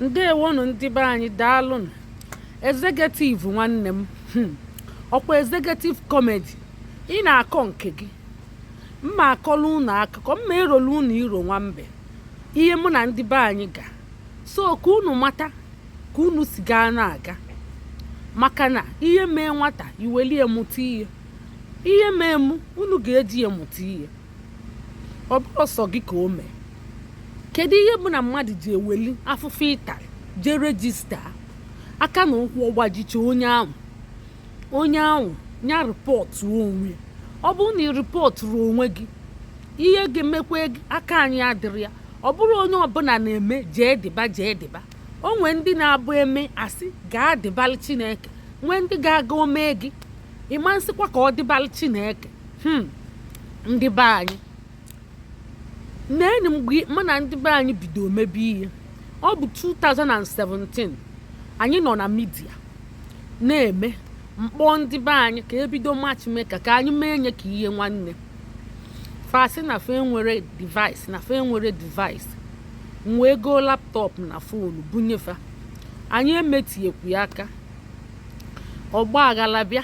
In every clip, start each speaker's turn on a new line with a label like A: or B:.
A: ndewonụ ndị be anyị daalụnụ executive nwanne m hmm. ọkwa executive comedy ị na-akọ nke gị m ma akọla unu akụkọ m ma erolu unu iro nwa mbe ihe mụ na ndị be anyị ga so ka unu mata ka unu si gaa na-aga maka na ihe mee nwata i welie mụta ihe ihe mee mụ unu ga-eji ya mụta ihe ọ bụrụ sọ gị ka o mee kedu ihe bụ na mmadụ ji eweli afụfụ ị talị jee rejista aka na ụkwụ ọ gbajicha onye ahụ onye ahụ nya rịpọtụ onwe ọ bụrụ na ị rịpọtụrụ onwe gị ihe ga-emekwa gị aka anyị adịrị ya ọ bụrụ onye ọbụla na-eme jee dịba jee dịba o nwee ndị na-abụ e mee a sị gaa dịbalị chineke nwee ndị ga-aga o mee gị ị ma nsịkwa ka ọ dịbalị chineke hmm, ndị be anyị neenị mgbe mụ na ndị be anyị bido mebe ihe ọ bụ 2017 anyị nọ na midia na-eme m kpọọ ndị be anyị ka e bido matchmaker ka anyị mee nye ka ihe nwanne fa sị na fa enwere device m wee goo laptọpụ na fonu bunye fa anyị emetiekwu ya aka ọgba aghara bịa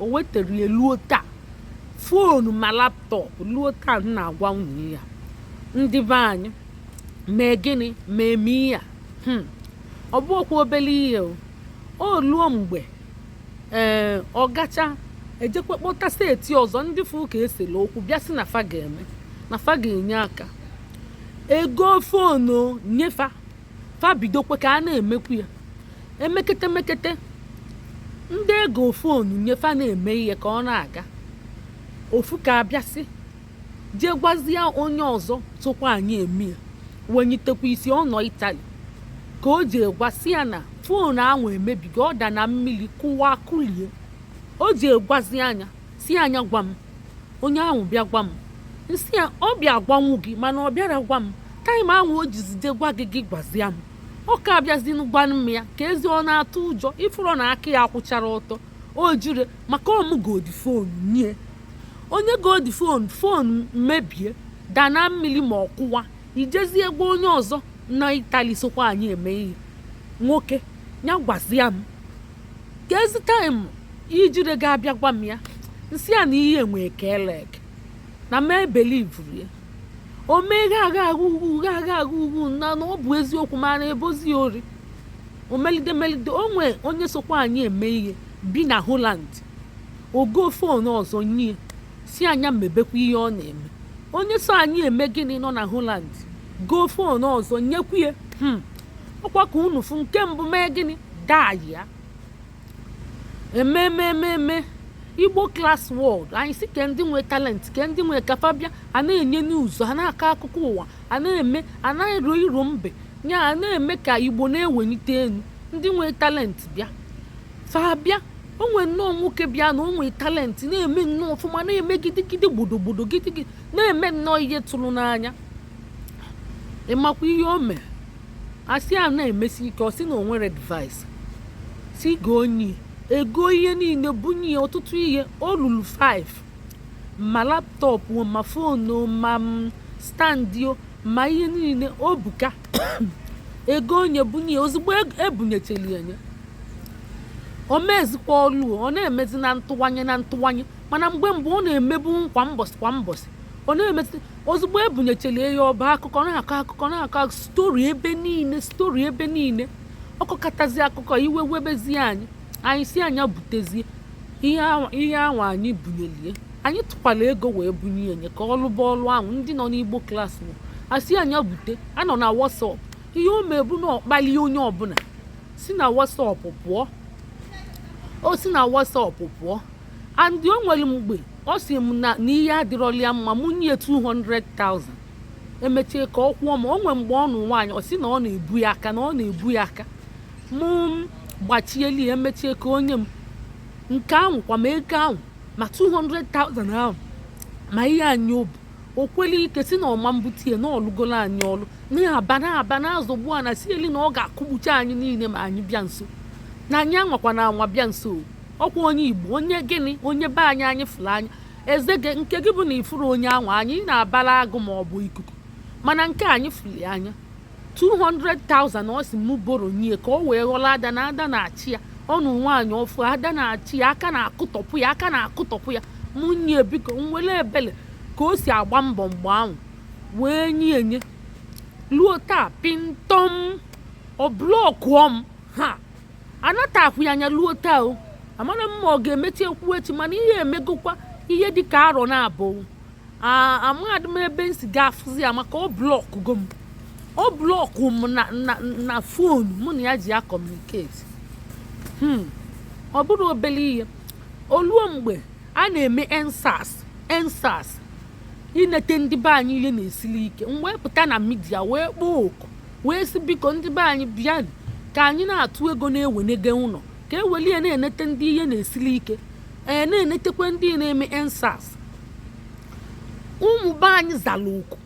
A: o wetara ya luo taa foonu ma laptọp luo taa m na-agwa unu ya ndị be anyị mee gịnị ma eme ihe a hmm. ọ bụ okwu obele ihe o o luo mgbe ee eh, ọ gacha ejekwa kpọta seti ọzọ ndị fụ ka e sela okwu bịa sị na fa ga-eme na fa ga-enye aka e goo foonu nye fa fa bidokwa ka a na-emekwu ya emekete mekete ndị e goo foonu nye fa na-eme ihe ka ọ na-aga ofu ka abịasị jee gwazie onye ọzọ sokwa anyị eme ya wenyitekwa isi ọ nọ itali ka o jee gwa sị ya na foonu ahụ emebigo ọ da na mmiri kụwa kụlie o jee gwazia nya sị nya gwa m onye ahụ bịa gwa m m sị ya ọ bịa gwanwu gị mana ọ bịara gwa m taịm ahụ o jizi je gwa gị gị gwazia m ọ ka abịazinu gwanụ m ya ka ezi ọ na-atụ ụjọ ị fụrọ na aka ya akwụchara ọtọ o jiri maka ọ mụ godi fon nye onye godi fon fon mebie da na mmiri ma ọ kụwa i jezie gwa onye ọzọ na itali sokwa anyị eme ihe nwoke ya gwazia m ka ezi taịm i jire ga-abịa gwa m ya m sị a na ihe enwe ka elek na m ebelivuru ya o mee gha agha agha ugwu gha agha agha ugwu na na ọ bụ eziokwu mana e bozi ori omelide melide o nwee onye sokwa anyị eme ihe bi na Holland o go fon ọzọ nye sị a nya mebekwa ihe ọ na-eme onye so anyị eme gịnị nọ na Holland go fon ọzọ nyekwu ya hmm. ọkwa ka unu fụ nke mbụ mee gịnị daa ya ememe ememe igbo class world anyị sị ke ndị nwe talent ke ndị nwe ka fa bịa a na-enye news a na-akọ akụkọ ụwa a na-eme a na-ero iro mbe ya a na-eme ka igbo na-ewenite enu ndị nwe talent bịa fa bịa o nwee nnọọ nwoke bịa na o nwee talent na-eme nnọọ ọfụma na-eme gidigidi gbodogbodo gidigidi na-eme nnọọ ihe tụrụ n'anya ị makwa ihe o mee a sị a na-emesi ike ọ sị na o nwere device sị gonye ya e go ihe niile bunye ya ọtụtụ ihe o lulu 5 ma laptop ma fonu ma stand o, ma ihe niile o bụ ka e gonye bunye ya ozugbo eg- ebunyecheli enye o mezikwa ọlụ o, ọ na-emezi na ntụwanye na ntụwanye mana mgbe mgbe ọ na-emebu kwa mbọsị kwa mbọsị ọ na-emezi ozugbo ebunyecheli ya ọ ba akụkọ na-akọ akụkọ na-akọ story ebe niile story ebe niile ọ kọkatazi akụkọ iwe webezie anyị anyị sị a nya butezie ihe ahụ anyị bunyelie anyị tụkwala ego wee bunye enye ka ọ lụba ọlụ ahụ ndị nọ n'igbo class bụ a sị a nya bute a nọ na WhatsApp ihe o me bụ na ọ kpali onye ọbụla si na WhatsApp pụọ o si na WhatsApp pụọ and o nwere mgbe ọ sị m na na ihe adịrọli ya mma mụ nye 200,000 emechie ka ọ kwụọ m o nwee mgbe ọ nụ nwaanyị ọ sị na ọ na-ebu ya aka na ọ na-ebu ya aka mụ gbachieli ya emechie ka o nye m nke ahụ kwa ma ego ahụ ma 200,000 ahụ ma ihe anyị o bu o kweli ike sị na ọ ma mbute ya na ọ lụgolo anyị ọlụ na-aba na-aba na-azọgbu a na si eli na ọ ga-akụgbucha anyị niile ma anyị bịa nso na anyị anwakwana anwa bịa nso ọkwa onye igbo onye gịnị onye be anyị anyị fụrụ anya Ezege nke gị bụ na ị fụrọ onye ahụ anya ị na-abara agụ ma ọ bụ ikuku mana nke anyị fụrụ anya 200,000 ọ sị mụ borrow nye ka ọ wee ghọrọ ada na ada na-achị ya ọ nụ nwaanyị ọfụ ada na-achị ya aka na-akụtọpụ ya aka na-akụtọpụ ya mụ nye biko nwere ebele ka o si agba mbọ mgbe ahụ wee nye enye luo taa pịntọm ọ blọkụọ m ha anatakwụ ya anya luo taa o amarọ m ma ọ ga-emechi ekwu echi mana ihe emegokwa ihe dị ka arọ naabọ amadị m ebe m si ga-afụzi ya maka ọ blọkụgo m ọ blọkụ m na phone mụ na ya ji ya communicate hmm. ọ bụrụ obere ihe o luo mgbe a na-eme EndSARS EndSARS inete ndị be anyị ihe na-esili ike m wee pụta na media wee kpọọ oku wee sị biko ndị be anyị bịanụ ka anyị na-atụ ego na-ewenege ụnọ ka e welie na-enete ndị ihe na-esili ike ee na-enetekwa ndị na-eme EndSARS ụmụ be anyị zara oku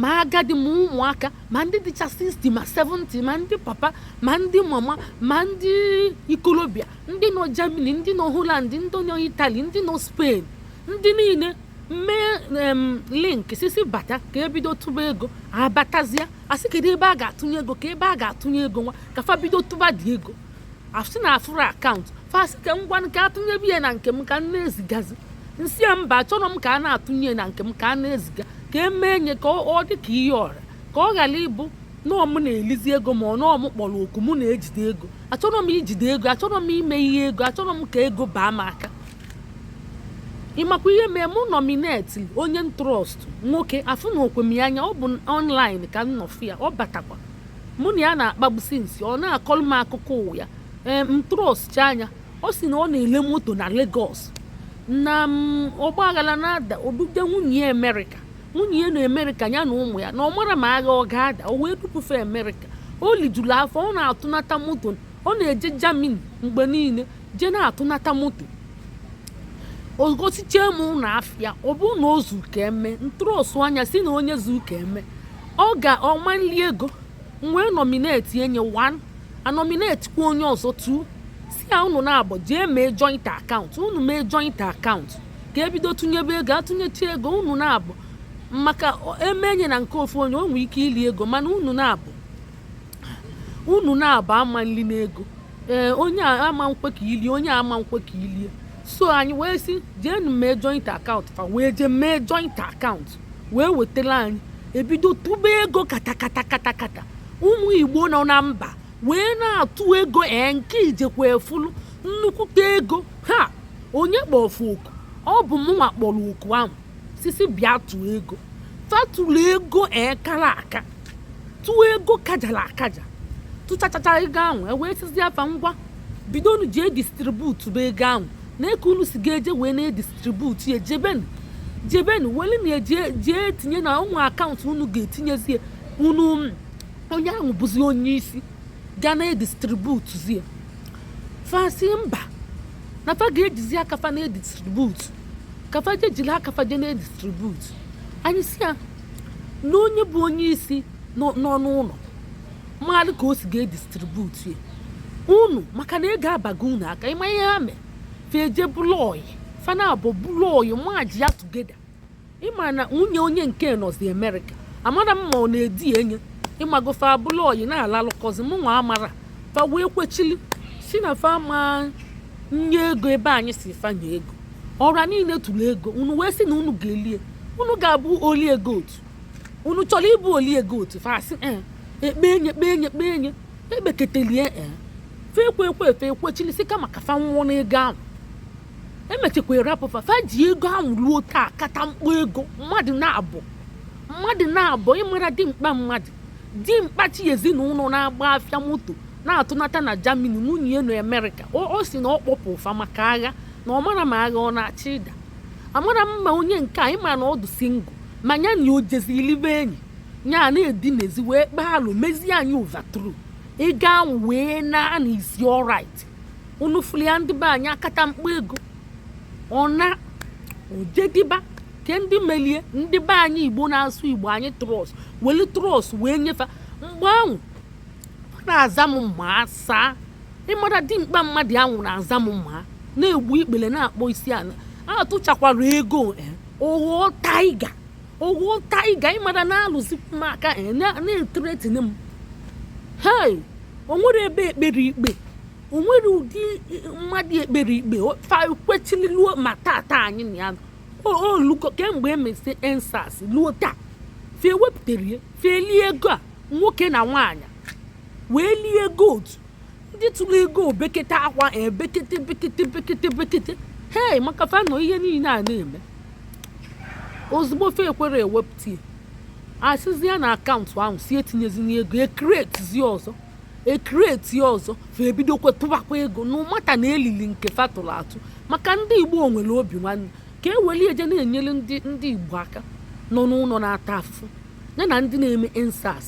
A: ma agadi ma ụmụaka ma ndị dịcha 60 ma 70 ma ndị papa ma ndị mama ma ndị ikolobịa ndị nọ Germany ndị nọ Holland ndị nọ Italy ndị nọ Spain ndị niile mee link sisi bata ka e bido tụba ego a batazia a sị kedu ebe a ga-atụnye ego ka ebe a ga-atụnye ego nwa ka fa bido tụbadị ego a sị na afụrọ account fa sị ka ngwa ka a tụnyebe ya na nke m ka m na-ezigazi m sị ya mba achọrọ m ka a na-atụnye na nke m ka a na-eziga ka e mee nye ka ọ dị ka ihe ọra ka ọ ghara ịbụ na ọ m na-elizi ego maka na ọ m kpọrọ oku mụ na-ejide ego achọrọ m ijide ego achọrọ m ime ihe ego achọrọ m ka ego baa m aka ị makwa ihe mee mụ nominate onye m trust nwoke afụrọkwa m ya anya ọ bụ online ka m nọ fụ ya ọ batakwa mụ na ya na-akpagbu since ọ na-akọrọ m akụkọ ụwa ya ee m trustchaa nya ọ sị na ọ na-ele moto na Lagos na ọgbaaghara na-ada o duje nwunye ya Amerịka nwunye ya na Amerịka ya na ụmụ ya na ọ marọ ma agha ọ ga-ada o wee dupụ fa Amerịka o lijuru afọ ọ na-atụnata moto ọ na-eje Germany mgbe niile je na-atụnata moto o gosichee m ụnọ afịa ọ bụ na o zu ka e mee m trust nya sị na onye zu ka e mee ọ ga ọ ma nli ego m wee nominate nye 1 a nominatekwa onye ọzọ 2 sị ya unu naabọ jee mee joint account unu mee joint account ka e bido tụnyebe ego a tụnyechi ego unu naabọ maka e mee nye na nke ofu onye o nwere ike ili ego mana unu naabọ unu naabọ ama nli ego ee onye a ama nkwe ka i lie onye a ama nkwe ka i lie so anyị wee sị jeenụ mee joint account fa wee jee mee joint account wee wetara anyị e bido tụba ego katakata katakata ụmụ Igbo nọ na mba wee na-atụ ego ee nke ijekwa efulu nnukwute ego ha onye kpọfu oku ọ bụ mụnwa kpọrọ oku ahụ sisi bịa tụọ ego fa tụrụ ego kara aka tụọ ego kajara akaja tụchachacha ego ahụ e wee sịzia fa ngwa bidonu jee distributebe ego ahụ nee ka unu si ga-eje wee na-edistribute ya jebenu jebenu weli na jee tinye na ụmụ akaụntụ unu ga-etinyezie unu onye ahụ bụzi onye isi ga na-edistributezi ya fa sị mba na fa ga-ejizi aka fa na-edistribute ka fa je jiri aka fa je na-edistribute anyị sị ya na onye bụ onye isi nọ n'ụlọ mara ka o si ga-edistribute ya unu maka na ego abago unu aka ị ma ihe ha mee fe je bụlụ ọyị fa naabọ bụlụ ọyị merge ya together ị ma na nwunye onye nke nọzi amerịka amara m ma ọ na-edi enye ị mago fe abụlụ ọyị na-alalụkọzi mụ nwa amara fa wee kwechili sị na fa ma nye ego ebe anyị sị fa nye ego ọra niile tụrụ ego unu wee sị na unu ga-elie unu ga-abụ oli ego otu unu chọrọ ịbụ oli ego otu fa sị eh, ekpe enye ekpe enye ekpe enye ekpeketelie eh, fe ekwe ekwe fe ekwechili sị kama ka fa nwụọ n'ego ahụ e mechekwa rapụ fa fa ji ego ahụ ruo taa akata mkpọ ego mmadụ naabọ mmadụ naabọ ị mara dimkpa mmadụ dimkpa chị ezinụlọ na-agba afịa moto na-atụnata na Germany nwunye ya na Amerịka ọ sị na ọ kpọpụụ fa maka agha na ọ mara ma agha ọ na-achọ ịda amara m ma onye nke anyị ma na ọ dụ single ma nya na o jezi ilibe enyi nya a na-edinezi wee kpaa alo mezie anyị overthrow ego ahụ wee naa na isi alright unu fụrụ ya ndị be anyị akata mkpọ ego ọ na ojediba ke ndị melie ndị be anyị igbo na-asụ igbo anyị trust welu trust wee nye fa mgbe ahụ ọ na-aza m ma asaa ị mara dimkpa mmadụ ahụ na-aza m ma na-egbu ikpere na-akpọ isi ala atụchakwara ego eh, ọ ghọọ tiger ọ ghọọ tiger ị mara na-alụzi m aka eh, na- na-ethreaten m hei o nwere ebe e kpere ikpe o nwere ụdị eh, mmadụ e kpere ikpe o- fa kwechiri luo ma tata anyị na ya o- o lugo kemgbe e mesị EndSARS luo taa fa ewepụtara ya fa elie ego a nwoke na nwaanyị wee lie ego otu ndị tụrụ ego e bekete akwa ebekete bekete bekete bekete hei maka fa nọ ihe niile a na-eme ozugbo fe ekwere ewepụta ya a sịzi ya na akaụntụ ahụ sị etinyezina ego e createzi ọzọ e create ọzọ fa ebidokwa tụbakwa ego na-amata na e lili nke fa tụrụ atụ maka ndị igbo nwere obi nwanne ka e weli eje na-enyere ndị igbo aka nọ n'ụlọ na-ata afụfụ ya na ndị na-eme EndSARS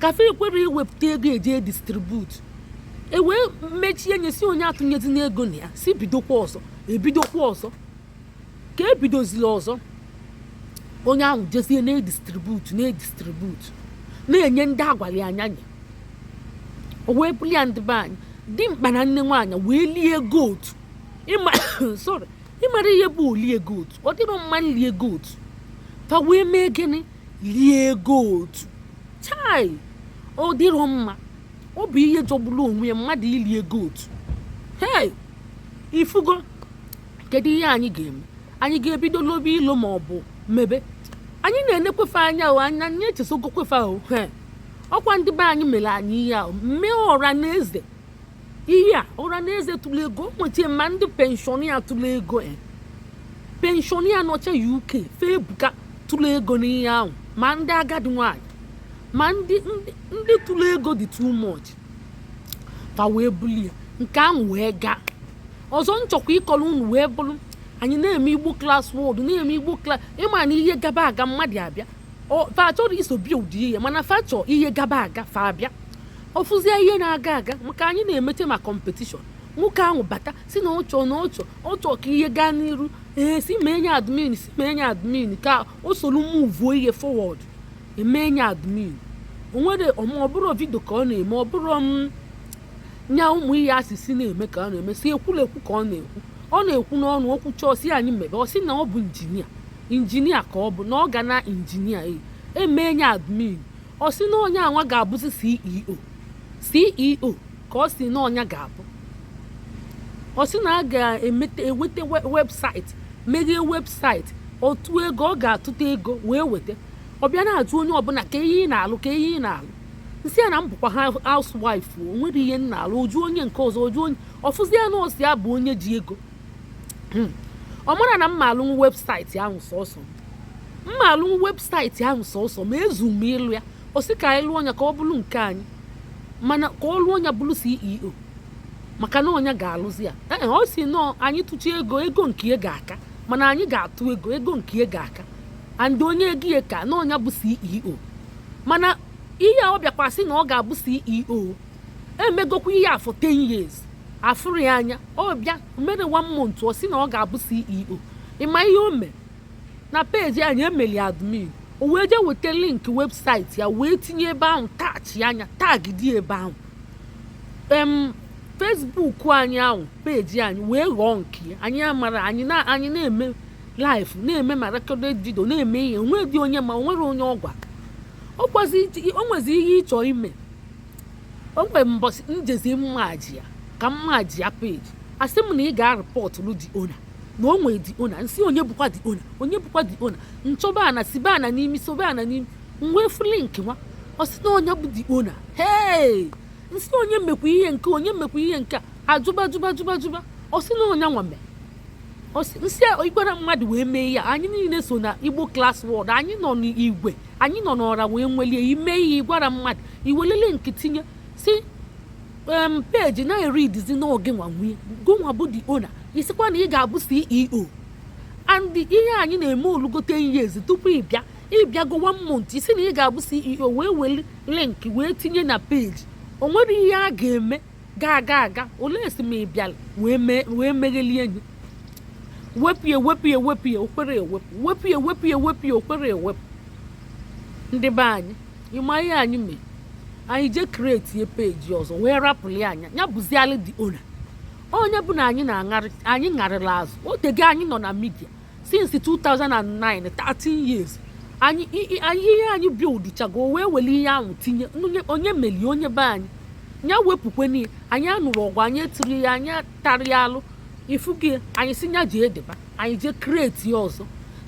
A: curfew ekwere iwepụta ego eji edistributu e wee mechie nya sị onye atụnyezina ego na ya sị bidokwa ọzọ ebidokwa ọzọ ka ebidozili ọzọ onye ahụ jezie na-edistributu na-edistributu na-enye ndị a gwara ya nya nye o wee buli ya ndị be anyị dimkpa na nne nwaanyị wee lie ego otu ịma sorry ịmara ihe bụ o lie ego otu ọ dịrọ mma lie ego otu fa wee mee gịnị lie ego otu chai ọ dịrọ mma ọ bụ ihe jọgburu onwe ya mmadụ ili ego otu hei ifugo kedu ihe anyị ga-eme anyị ga-ebido lobe ilo ma ọ bụ maybe anyị na-enekwe fe anya o anya anyị echezọgokwe fe ahụ ọ kwa ndị be anyị mere anyị ihe ahụ mee ọra na eze ihe a ọra na eze tụrụ ego nwechie ma ndị pensioner tụrụ ego e. pensioner nọcha UK fe ebuka tụrụ ego n'ihe ahụ ma ndị agadi nwanyị ma ndị ndị tụrụ ego dị too much fa wee bulie nke ahụ wee gaa ọzọ m chọkwa ịkọrọ unu wee bụrụ anyị na-eme Igbo class wọd na-eme Igbo class ịma na ihe gaba aga mmadụ abịa fa achọrọ iso bido ihe mana fa chọọ ihe gaba aga fa abịa ọ fụzie ihe na-aga aga maka anyị na-emeche ma competition nwoke ahụ bata sị na ọ chọ na ọ chọ ọ chọ ka ihe gaa n'iru ee sị mee nya admin sị mee nya admin ka o soro muvuo ihe forward e mee nya admin o nwere ọ bụrụ vidio ka ọ na-eme ọ bụrụ mm, nya ụmụ ihe asịsị na-eme ka ọ na-eme sị ekwulekwu ka ọ na-ekwu ọ na-ekwu n'ọnụ o kwuchaa sị anyị mebe ọ sị na ọ bụ injinia injinia ka ọ bụ na ọ ga na injinia e, e mee nya admin ọ sị na onye anwa ga-abụzi CEO CEO ka ọ sị na ọ nya ga-abụ ọ sị na a ga-eweta website meghee website otu ego ọ ga-atụta ego wee weta ọ bịa na-ajụ onye ọbụla kee ihe ị na-alụ kee ihe ị na-alụ m sị ya na m bụkwa ha housewife o nwere ihe m na-alụ ọ jụọ onye nke ọzọ ọ jụọ onye ọ fụzia na ọ sọ ya bụ onye ji ego hmm. ọ mara na m ma alụnwu website ahụ sọsọ m ma alụnwu website ahụ sọsọ m ezu m ịlụ ya ọ sị ka anyị lụọ nya ka ọ bụrụ nke anyị mana ka ọ lụọ nya bụrụ CEO maka na ọ nya ga-alụzi ya ee ọ sị no anyị tụcha ego ego nke ya ga-aka mana anyị ga-atụ ego ego nke ya ga-aka and onye ego ya ka na ọ nya bụ CEO mana ihe ọ bịakwa sị na ọ ga-abụ CEO emegokwa ihe for 10 years afụrụ ya anya ọ bịa mere one month ọ sị na ọ ga-abụ CEO ịma ihe o mee na peji anyị emeli admin o wee jee weta link website ya wee tinye ebe ahụ attachịa nya tagidi ebe ahụ em Facebook anyị ahụ peji anyị wee ghọọ nke anyị amara anyị na anyị na-eme live na-eme ma recorded video na-eme ihe o nwedị onye ma o nwere onye ọ gwara o nwezi ihe ị chọ ime o nwere mbọsị njezi m merge ya ka m merge ya peji asị m na ị ga-arịpọtụrụ the owner na o nwere the owner nsị onye bụkwa the owner onye bụkwa the owner nchọba ana sibe ana n'imi sobe ana n'imi nwee fụ link nwa ọ sị na onye bụ the owner hee nsị onye mekwa ihe nke onye mekwa ihe nke a jụba jụba jụba jụba ọ sị na onye nwa mee nsị ị gwara mmadụ wee mee ya anyị niile so na igbo class word anyị nọ n'igwe anyị nọ n'ọra wee nwelie ime ihe ị gwara mmadụ i weli link tinye si em peji na-eridizi na ọ gịnwa nwe ya gụnwa bụ the owner ị sịkwa na ị ga-abụ ceo and ihe anyị na-eme olugo 10 years tupu ị bịa ị bịago one month ị sị na ị ga-abụ ceo wee weli link wee tinye na peji o nwere ihe a ga-eme gaa gaa aga olee e si mee ị bịala wee meghelie anyị wepụ ya wepụ ya wepụ ya o kwerọ ewepụ wepụ ya wepụ ya wepụ ya o kwerọ ewepụ ndị be anyị ịma ihe anyị mee anyị jee create ya peji ọzọ wee rapụlịa nya ya bụzialị the owner ọ nya bụ na anyị na-aṅarị anyị ṅarịla azụ o tego anyị nọ na media since 2009 13 years anyị ihe anyị buildchago o wee were ihe ahụ tinye onye meli onye be anyị ya wepụkwenụ ya anyị anụrọ ọgụ anyị etirọ ihe anyị atarọ alụ ị fụgo anyị si ya jideba anyị jee create ya ọzọ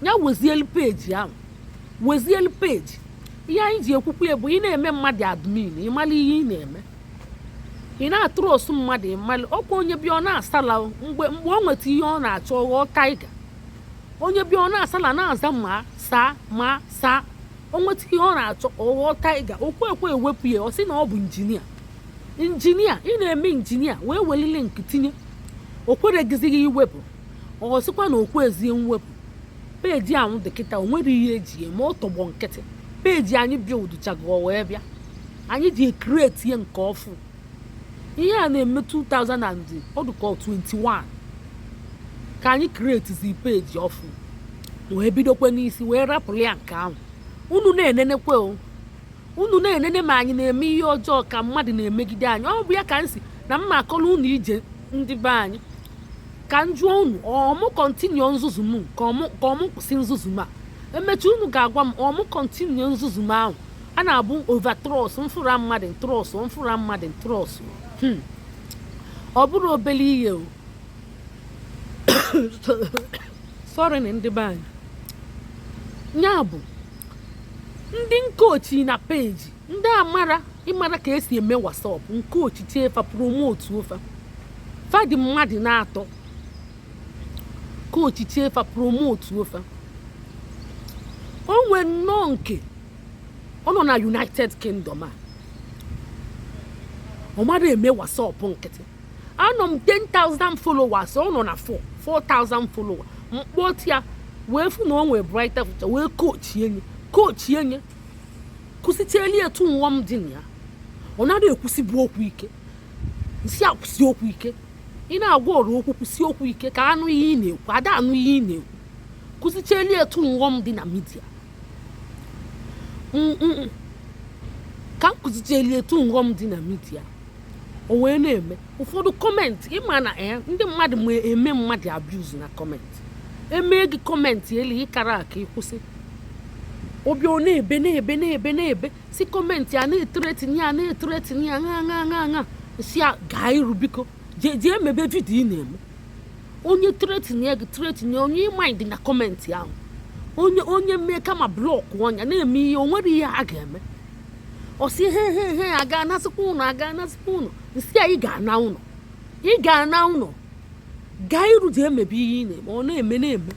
A: ya wezielu peji ahụ wezielu peji ihe anyị ji ekwukwu ya bụ ị na-eme mmadụ admin ị malụ ihe ị na-eme ị na-atrust mmadụ ịmalụ ọkwa onye bịa ọ na-asala mgbe mgbe ọ nweta ihe ọ na-achọ ọ ghọọ tiger onye bịa ọ na-asala na-aza ma sir ma sir o nweta ihe ọ na-achọ ọ ghọọ tiger o kwekwe ewepụ ya ọ sị na ọ bụ injinia injinia ị na-eme injinia wee weli link tinye o kweregizighị iwepụ ọ sịkwa na o kwezie mwepụ peji ahụ dị kịta o nwere ihe eji eme ọ tọgbọ nkịtị peji anyị buildchago wee bịa anyị jee create ya nke ọfụ ihe a na-eme 2000 and ọ dịka 21 ka anyị createzi peji ọfụ wee bidokwe n'isi wee rapụrụ ya nke ahụ unu na-enenekwe o unu na-enene ma anyị na-eme ihe ọjọọ ka mmadụ na-emegide anyị ọ bụ ya ka anyị si na m ma-akọrọ unu ije ndị be anyị ka m jụọ unu ọ mụ continue nzuzu m ka ọ mụ kwụsị nzuzu m a emechie unu ga-agwa m ọ mụ continue nzuzu m ahụ a na-abụ overtrust m fụrụ mmadụ trust m fụrụ mmadụ trust hmm. ọ bụrụ obele ihe o sorry na ndị be anyị ya bụ ndị m kochi na page ndị amara ịmara ka esi eme WhatsApp m kochichie fa promotuo fa fa dị mmadụ n'atọ kochichie fa promotuo fa o nwee nnọọ nke ọ nọ na united kingdom a ọ marọ eme WhatsApp nkịtị anọ m 10,000 followers ọ nọ na 4 4,000 followers m kpọte ya wee fụ na o nwee brighter future wee kochie nye kochie nye kụzichieli etu nwa m dị na ya ọ narọ ekwusibu okwu ike sị ya kwusie okwu ike ị na-agwa ọra okwu kwusie okwu ike ka a nụ ihe ị na-ekwu a da anụ ihe ị na-ekwu kụzicheli etu nghọm dị na media ka m kụzicheli etu nghọm dị na media o wee na-eme ụfọdụ comment ị ma na eh, ndị mmadụ ma eme mmadụ abuse na comment emee gị comment elu ị karọ aka ịkwụsị obi ọ na-ebe na-ebe na-ebe na-ebe sị comment a na-ethreaten ya na-ethreaten ya ṅa ṅa ṅa ṅa sị ya gaa iru biko jee jee mebe video ị na-eme onye threaten gị threaten onye ị mind na comment ahụ onye onye mee kama block onye a na-eme ihe o nwerọ ihe a ga-eme ọ sị he he he a ga-anasịkwa ụnọ a ga-anasịkwa ụnọ m sị ya ị ga-ana ụnọ ị ga-ana ụnọ gaa iru jee mebe ihe ị na-eme ọ na-eme na-eme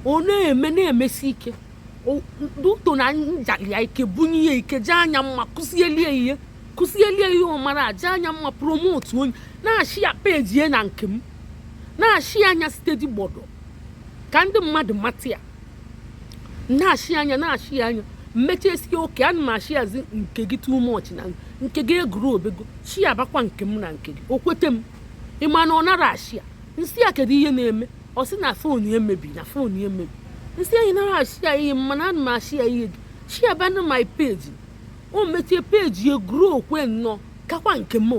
A: ọ na-eme na-emesi ike due to na m jalị ya ike bunye ya ike jaa nya mma kụzielie ihe kụzielie ihe ọ marọ jaa nya mma promotuo nye na-ashare page ya na nke m na-ashare nya steady gbọdọ ka ndị mmadụ mata ya na-ashare nya na-ashare nya m mechisie okay ana m asharezi nke gị too much na nke gị egrowbego sharebakwa nke m na nke gị o kwete m ị ma na ọ narọ ashare m sị ya kedu ihe na-eme ọ sị na phone ya emebi na phone ya emebi m sị ya ị narọ ashare ihe m mana ana m ashare ihe sharebanụ my page o mechie page ya growkwe nnọọ kakwa nke m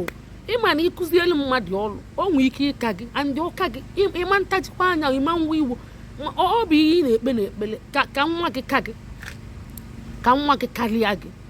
A: ị ma na ị kụzielu mmadụ ọrụ o nwee ike ịka gị and ọ ka gị ị ma ntajikwa anya ị ma nwe iwe ọ bụ ihe ị na-ekpe n'ekpele ka nwa gị ka gị ka nwa gị karịa gị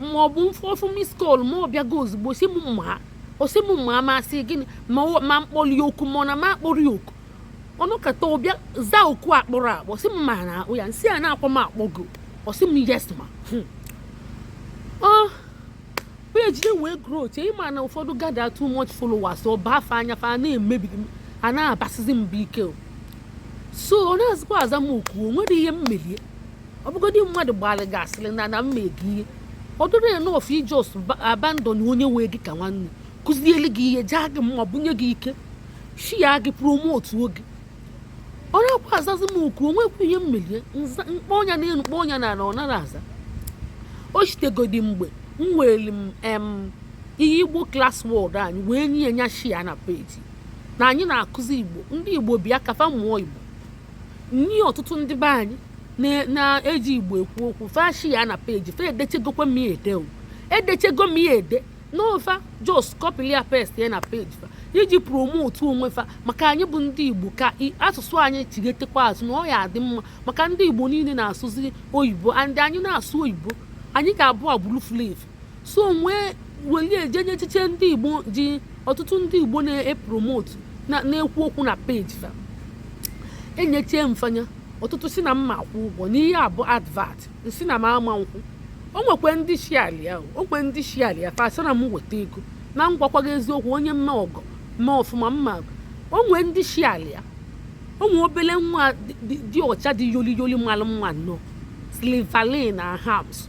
A: ma ọ bụ m fụ ọ fụ miss call ma ọ bịago ozugbo sị m ma ọ sị m ma ma sị gịnị ma ọ- ma m kpọrọ ya oku ma ọ na ma akpọrọ ya oku ọ nọkata ọ bịa zaa oku akpọrọ akpọ sị m ma na akpọ ya m sị a na-akpọ m akpọ gị ọ sị m yes ma Hmm. peji ya wee grow o che ị ma na ụfọdụ gather too much followers ọ baa fa anya fa na-emebi a na-abasịzi mba ike o. so ọ nazịkwa aza m oku o nwere ihe m meli e ọ bụgodị mmadụ gbara gị asịrị na na m mego ihe ọ dịrọ enough ị jos abandon onye wee gị ka nwanne kụziele gị ihe jaa gị mma bunye gị ike shia gị promotuo gị ọ nakwa azazi m oku o nwekwa ihe m meli e m kpọọ nya na elu kpọọ nya na ala ọ nara aza o shitegodi mgbe m weere ihe igbo klas wọd anyị wee nye ya shia na peji na anyị na-akụzi igbo ndị igbo bịa ka fa mụọ igbo nye ọtụtụ ndị be anyị na- na-eji igbo ekwu okwu fa shia na peji fa edechegokwa m ya ede o edechego m ya ede na ọ fa jos kọpili ya pest ya na peji fa iji promotu onwe fa maka anyị bụ ndị igbo ka i- asụsụ anyị chigetekwa azụ na ọ ya adị mma maka ndị igbo niile na-asụzi oyibo and anyị na-asụ oyibo anyị ga-abụ agbụrụ fulu efu so m wee weli e je nye echiche ndị igbo ji ọtụtụ ndị igbo na-epromotu na-ekwu okwu na peji fa enyechie m fa nya ọtụtụ sị na m ma-akwụ ụgwọ na ihe a bụ advat m sị na m ama akwụ o nwekwe ndị shiali ya o nwekwe ndị shiali ya fa asị na m weta ego na m gwakwa gị eziokwu onye mma ọgọ mma ọfụma mma o nwee ndị shiali ya o nwee obele nwa dị ọcha dị yoli yoli malụ mma nnọọ slivalin na hams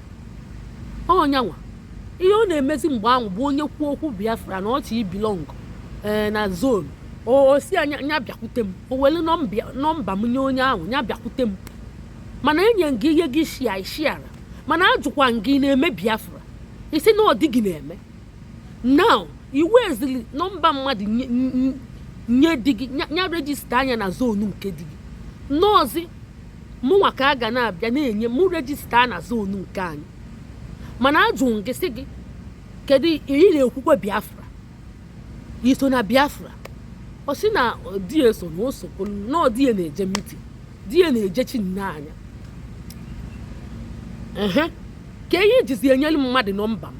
A: ọ nyanwa ihe ọ na-emezi mgbe ahụ bụ onye kwuo okwu biafra na ọ chọ ibilong ee eh, na zon ọ sị a nya bịakwute m o were nọmba m nye onye ahụ nya bịakwute m mana enye m gị ihe gị shia ị shiara mana ajụkwa m gị ị na-eme biafra ị sị na ọ di gị na-eme now i wezili nọmba mmadụ nye di gị nya rejista nya na zonu nke di gị nọọzi mụnwa ka a ga na-abịa na-enye mụ rejista na zonu nke anyị mana ajụ m gị sị gị kedu ị na-ekwukwe biafra i so na biafra ọ sị na di ya so na o sokwu na ọ di ya na-eje mitin di ya na-ejechiri nya anya ehe kee ihe i jizi enyere mmadụ nọmba m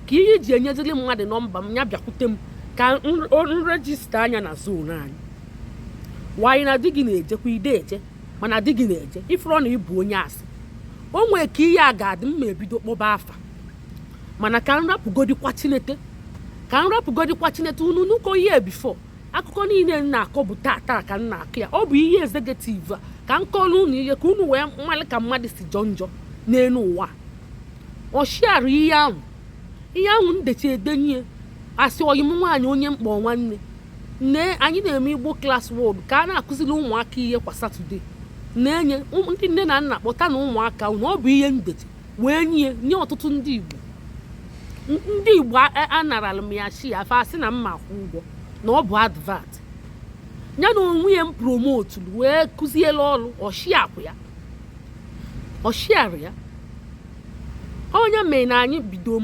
A: kee ihe i ji enyeziri mmadụ nọmba m ya bịakwute m ka m rejista nya na zonu anyị nwaanyị na di gị na-ejekwa ide eje mana di gị na-eje ị fụrụ na ị bụ onye asị o nwee ka ihe a ga-adị mma ebido kpọba afa mana ka m rapụgodikwa chineke ka m rapụgodikwa chineke unu nuko ihe before akụkọ niile m na-akọ bụ tata ka m na-akọ ya ọ bụ ihe executive a ka m kọọrọ unu ihe ka unu wee malụ ka mmadụ si jọ njọ n'elu ụwa ọ shiara ihe ahụ ihe ahụ ndechi edenye asị ọyị m nwaanyị onye mkpọ nwanne nne anyị na-eme igbo class word ka a na-akụziri ụmụaka ihe kwa satọde na-enye ndị nne na nna kpọta na ụmụaka na ọ bụ ihe ndechi wee nye nye ọtụtụ ndị igbo ndị igbo anarala m ya chi ya fa asị na mma akwụ ụgwọ na ọ bụ advert ya na onwe ya m promote wee kụziela ọrụ ọshiakwụ ya ọshiara ya onye mee na anyị bido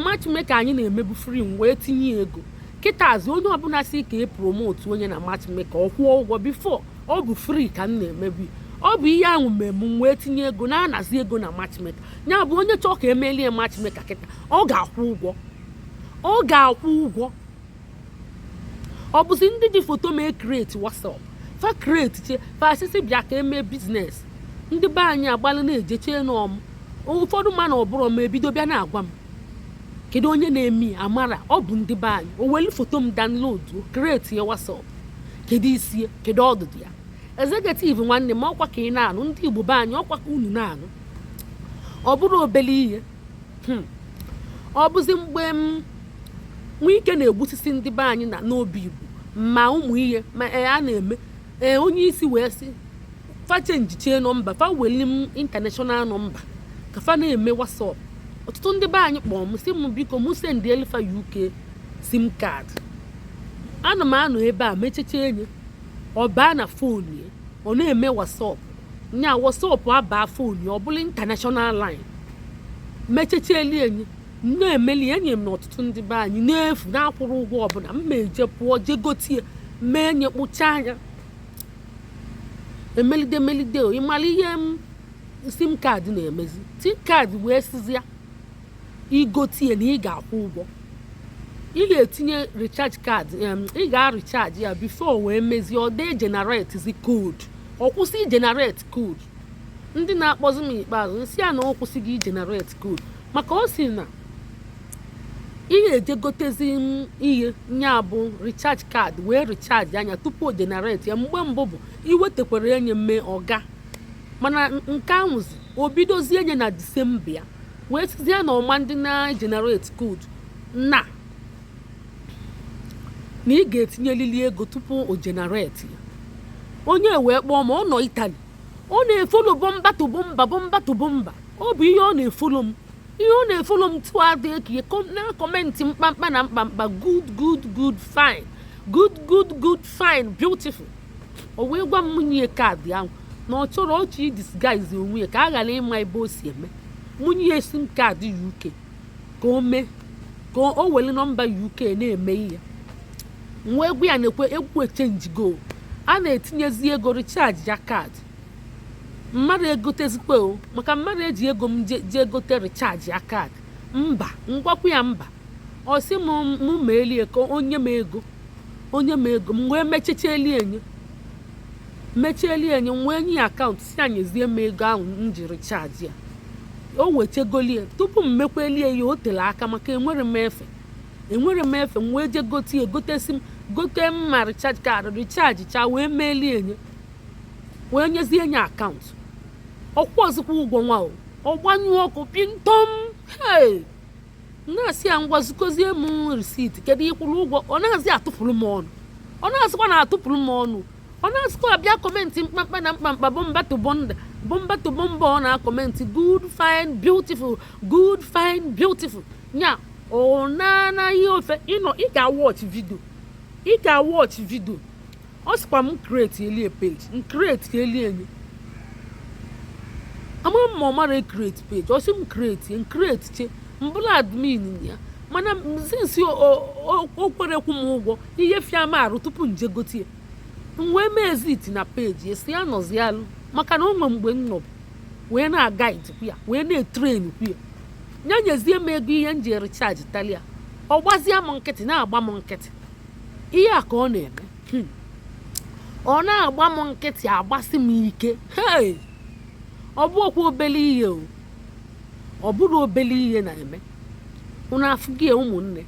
A: matchmaker anyị na-emebu free m wee tinye ego kịtaazị onye ọbụla sị ka e promote onye na matchmaker ọ kwụọ ụgwọ before ọ bụ free ka m na-emebu ọ bụ ihe ahụ mee m wee tinye ego na-anazi ego na matchmaker ya bụ onye chọọ ka e melie matchmaker kịta ọ ga-akwụ ụgwọ ọ ga-akwụ ụgwọ ọ bụzi ndị ji foto m e create whatsapp fa create che fa asịsị bịa ka e mee business ndị be anyị agbalụ na-eje chee na ọ m ụfọdụ ma na ọ bụrọ m ebido bịa na-agwa m kedu onye na-eme ya amara ọ bụ ndị be anyị o welu foto m download create ya whatsapp kedu isi ya kedu ọdụdụ ya executive nwanne m ọkwa ka ị na-anụ ndị igbo be anyị ọkwa ka unu na-anụ ọ bụrọ obele ihe hmm. ọ bụzi mgbe mm, wike na-egbusisi ndị be anyị na n'obigbo ma ụmụ ihe ma e, a na-eme e, onye isi wee sị fa chenjichie nọmba fa weli m international nọmba ka fa na-eme whatsapp ọtụtụ ndị be anyị kpọọ m sị m biko m sendielụ fa uk sim card ana m anọ ebe a mechecha enye ọ baa na fon ya ọ na-eme whatsapp nya whatsapp abaa fon ya ọ bụlụ international line mechechieli enye na-emeli enye m na ọtụtụ ndị be anyị n'efu na-akwụrọ ụgwọ ọbụla m ma eje pụọ jee gotie mee enye kpụcha anya emelide melide ịmara ihe m sim card na-emezi sim card wee sizi ya i gotie na ị ga-akwụ ụgwọ ị ga-etinye recharge card ị ga-recharge ya before wee mezie ọ dee generatezi code ọ kwụsị igenerate code ndị na-akpọzi m ikpeazụ m sị ya na ọ kwụsịgo igenerate code maka ọ sị na ị ga-eje gotezi ihe nya bụ recharge card wee recharge nya tupu o generate ya mgbe mbụ bụ i wetekwara enye m mee ọ gaa mana nke ahụzi o bidozie enye na disemba ya wee sizie ya na ọ ma ndị na-generate code na na ị ga-etinyelili ego tupu o generate ya onye wee kpọọ ma ọ nọ itali ọ na-efolo bumper to bumper bumper to bumper ọ bụ ihe ọ na-efolo m ihe ọ na-efolo m tụ adị ekiye na-akọmentị mkpamkpa na mkpamkpa good good good fine good good good fine beautiful o wee gwa m mụ nye ya kaadị ahụ na ọ chọrọ ọ chọ idisguise onwe ya ka a ghara ịma ebe o si eme mụ nye ya sim kaadị uk ka o mee ka o were nọmba uk na-eme ihe m wee gwa ya na uk echenjigo a na-etinyezi ego richaji ya kaadị m ma-egotezikwa o maka m ma-eji ego m jee gote richaji ya kaadị mba m gwakwa ya mba ọ sị m mụ meelie ka o nye m ego o nye m ego m wee mechecha elie enye mechieli enye m wee nye ya akaụntụ sị ya nyezie m ego ahụ m ji richaji ya o wechegolie tupu m mekwelie ya o tere aka maka enwerọ m efe enwerọ m efe m wee je gote ya gote sim gote ma richaj kaadị richaj cha wee meelie enye wee nyezie enye akaụntụ ọ kwụọzikwa ụgwọ nwa o ọ gbanyụọ ọkụ pịntọm hei na-asị ya ngwa zikozie m risiti kedu ị kwụrụ ụgwọ ọ naazị atụpụrụ m ọnụ ọ naazịkwa na-atụpụrụ m ọnụ ọ naazịkwa abịa kọmentị mkpamkpa na mkpamkpa bumper to bumper bumper to bumper ọ na-akọmentị good fine beautiful good fine beautiful nya ọ na-anaghị ofe ịnọ ị ga-awọch vidio ị ga-awọch vidio ọ sịkwa m createlie page m createlie nye ama m ma ọ marọ ecreate page ọ sị m create m create che m bụrụ admin ya mana sinsi o kwerọ akwụ m ụgwọ ihe fịa m arụ tupu m je gote ya m wee mee exit na peji sị ya nọzi alụ maka na o nwe mgbe m nọbụ wee na-aguidekwu ya wee na-etrainkwu ya ya nyezie m ego ihe m ji recharge talia ọ gbazie m nkịtị na-agba m nkịtị ihe a ka ọ na-eme hmm. ọ na-agba m nkịtị agbasi m ike ọ bụrọkwa obele ihe o ọ bụrọ obele ihe na-eme unu afụgo ya ụmụnne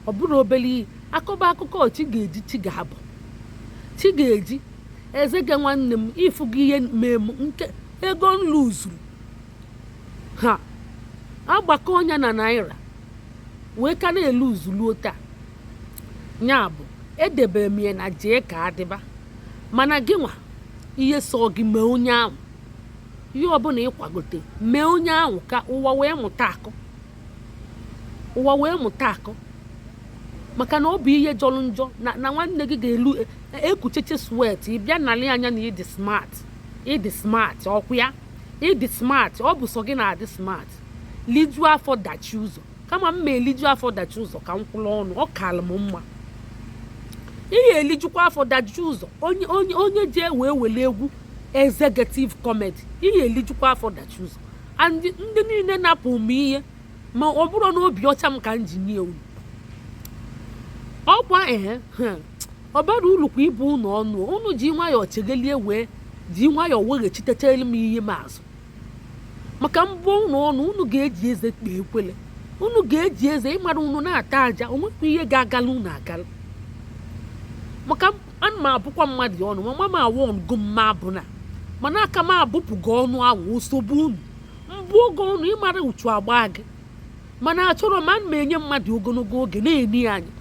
A: ọ bụrọ obele ihe a kọba akụkọ chi ga-eji chi ga-abọ chi ga-eji ezigbo nwanne m ị fụgo ihe mee m nke ego m luzuru a gbakọọ nya na naira wee ka na-eluzu ruo taa ya bụ edebere m ya na jee ka ọ dịba mana gị nwa ihe sọ gị mee onye ahụ ihe ọbụla ị kwagote mee onye ahụ ka ụwa wee mụta akọ ụwa wee mụta akọ maka na ọ bụ ihe jọrọ njọ na nwanne gị ga-elu e, e, ekucheche swet ị bịa nalị ya na ị dị smart ị dị smart ọkwa ya ị dị smart ọ bụ sọ gị na-adị smart liju afọ dachi ụzọ kama m ma eliju afọ dachi ụzọ ka m kwụrụ ọnụ ọ kalụ m mma ihe elijukwa afọ dachi ụzọ onye onye onye ji ewe were egwu executive committee ihe elijukwa afọ dachi ụzọ and ndị niile napụ m ihe ma ọ bụrụ na obi ọcha m ka m ji nye unu ọkwa ehe ọ bara uru kwa ịbụ unu ọnụ unu ji nwayọọ chegelie wee ji nwayọọ weghachitechelu m ihe m azụ maka m bụọ unu ọnụ unu ga-eji eze kpee ekwele unu ga-eji eze ịmara unu na-ata aja o nwekwa ihe ga-agala unu agala maka ana m abụkwa mmadụ ọnụ ma mama awụ ọnụgo mma abụ na mana aka m abụpụgo ọnụ ahụ osogbu unu m bụọ gị ọnụ ịmara uchu agba gị mana achọrọ m ana m enye mmadụ ogologo oge na-ene ya anya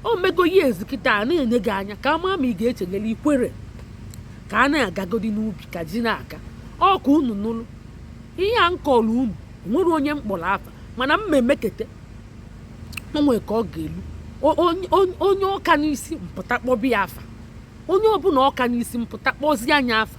A: o mego ya ezikịta a na-ene gị anya ka a ma ma ị ga-echeghalị ikwere ka a na-agagodi n'ubi ka ji na-aka ọ kwa unu nụrụ ihe a m kọlụ unu nwere onye m kpọrọ afa mana m ma emekete o nwee ka ọ ga-elu onye ọka n'isi m pụta kpọbe ya afa onye ọbụla ọka n'isi m pụta kpọzie nya afa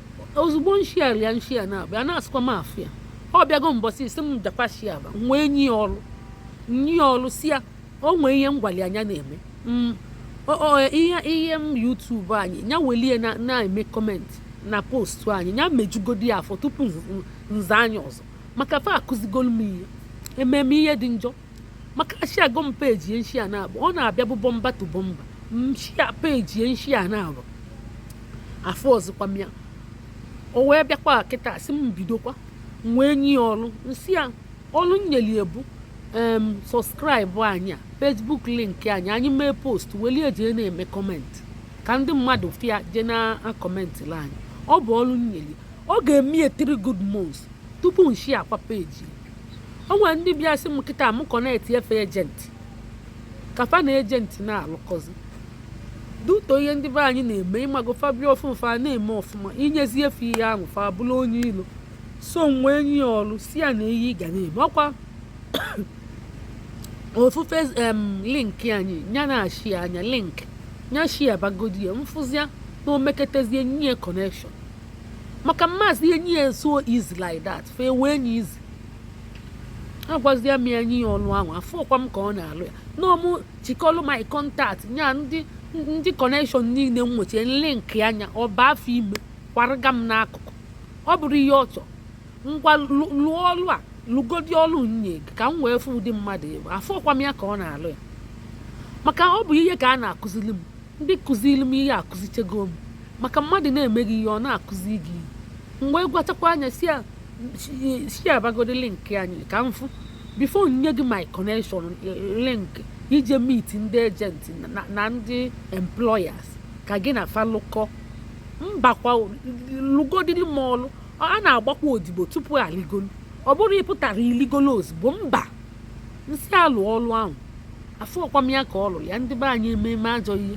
A: ozugbo m share ya m share na abịa anazịkwa m afụ ya ọ bịago mbọsị isi m jekwa share ba m wee nye ya ọrụ nye ya ọrụ sị ya o nwee ihe m gwalị ya nya na-eme mm, ihe ihe m YouTube anyị ya welie na-eme comment na post anyị ya mejugodi ya afọ tupu m zaa nya ọzọ maka fa akụzigolu m ihe ememe ihe dị njọ maka na share go m page ya m share na abụ ọ na-abịa bụ bumper to bumper m share page ya m share na abụ afụzịkwa m ya o wee bịakwa kịta sị m bidokwa m wee nye ya ọrụ m sị ya ọrụ m nyeli ya bụ em subscribe anyị a Facebook link anyị anyị mee post welie jee na-eme comment ka ndị mmadụ fụ ya jee na-acommentịla anyị ọ bụ ọrụ m nyeli ya ọ ga-eme ya 3 good months tupu m share kwa page o nwere ndị bịa sị m kịta m connectie fe agent ka fa na agent na-alụkọzi due to ihe ndị be anyị na-eme ịmago fa bịa ọfụụ fa na-eme ọfụma i nyezie fe ihe ahụ fa abụlụ onye ilo so m wee nye ya ọrụ sị ya na ihe ị ga na-eme ọkwa ofufe em link anyị nya na-share nya link nya share bagodi ya m fụzia na o meketezie m nye ya connection maka m mazị enye ya so easy like that fa ewe nya easy agwazie m ya nye ya ọlụ ahụ afụkwa m ka ọ na-alụ ya na ọ mụ chịkọlụ my contact nya ndị ndị connection niile m nwechie link nya ọ baa afọ ime kwarịga m n'akụkụ ọ bụrụ ihe ọ chọrọ ngwa lụọ ọlụ a lụgodi ọlụ m nye gị ka m wee fụ ụdị mmadụ ị bụ afụkwa m ya ka ọ na-alụ ya maka ọ bụ ihe ka a na-akụziri m ndị kụzili m ihe akụzichego m maka mmadụ na-emeghị ihe ọ na-akụzi gị mgbe kpachakwa anya si abagodi link anyị ka m fụ before m nye gị my connection link ije meet ndị agent na ndị employers ka gị na fa lụkọ mbakwa lụgodili m ọlụ a na-agbakwa odibo tupu a ligolu ọ bụrọ ị pụtara i ligolu ozugbo mba nsị alụ ọlụ ahụ afọ ọkwa m ya ka ọ lụrụ ya ndị be anyị ememe ajọ ihe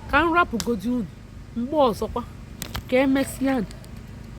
A: ka m rapụgodi unu mgbe ọzọkwa ka emesịa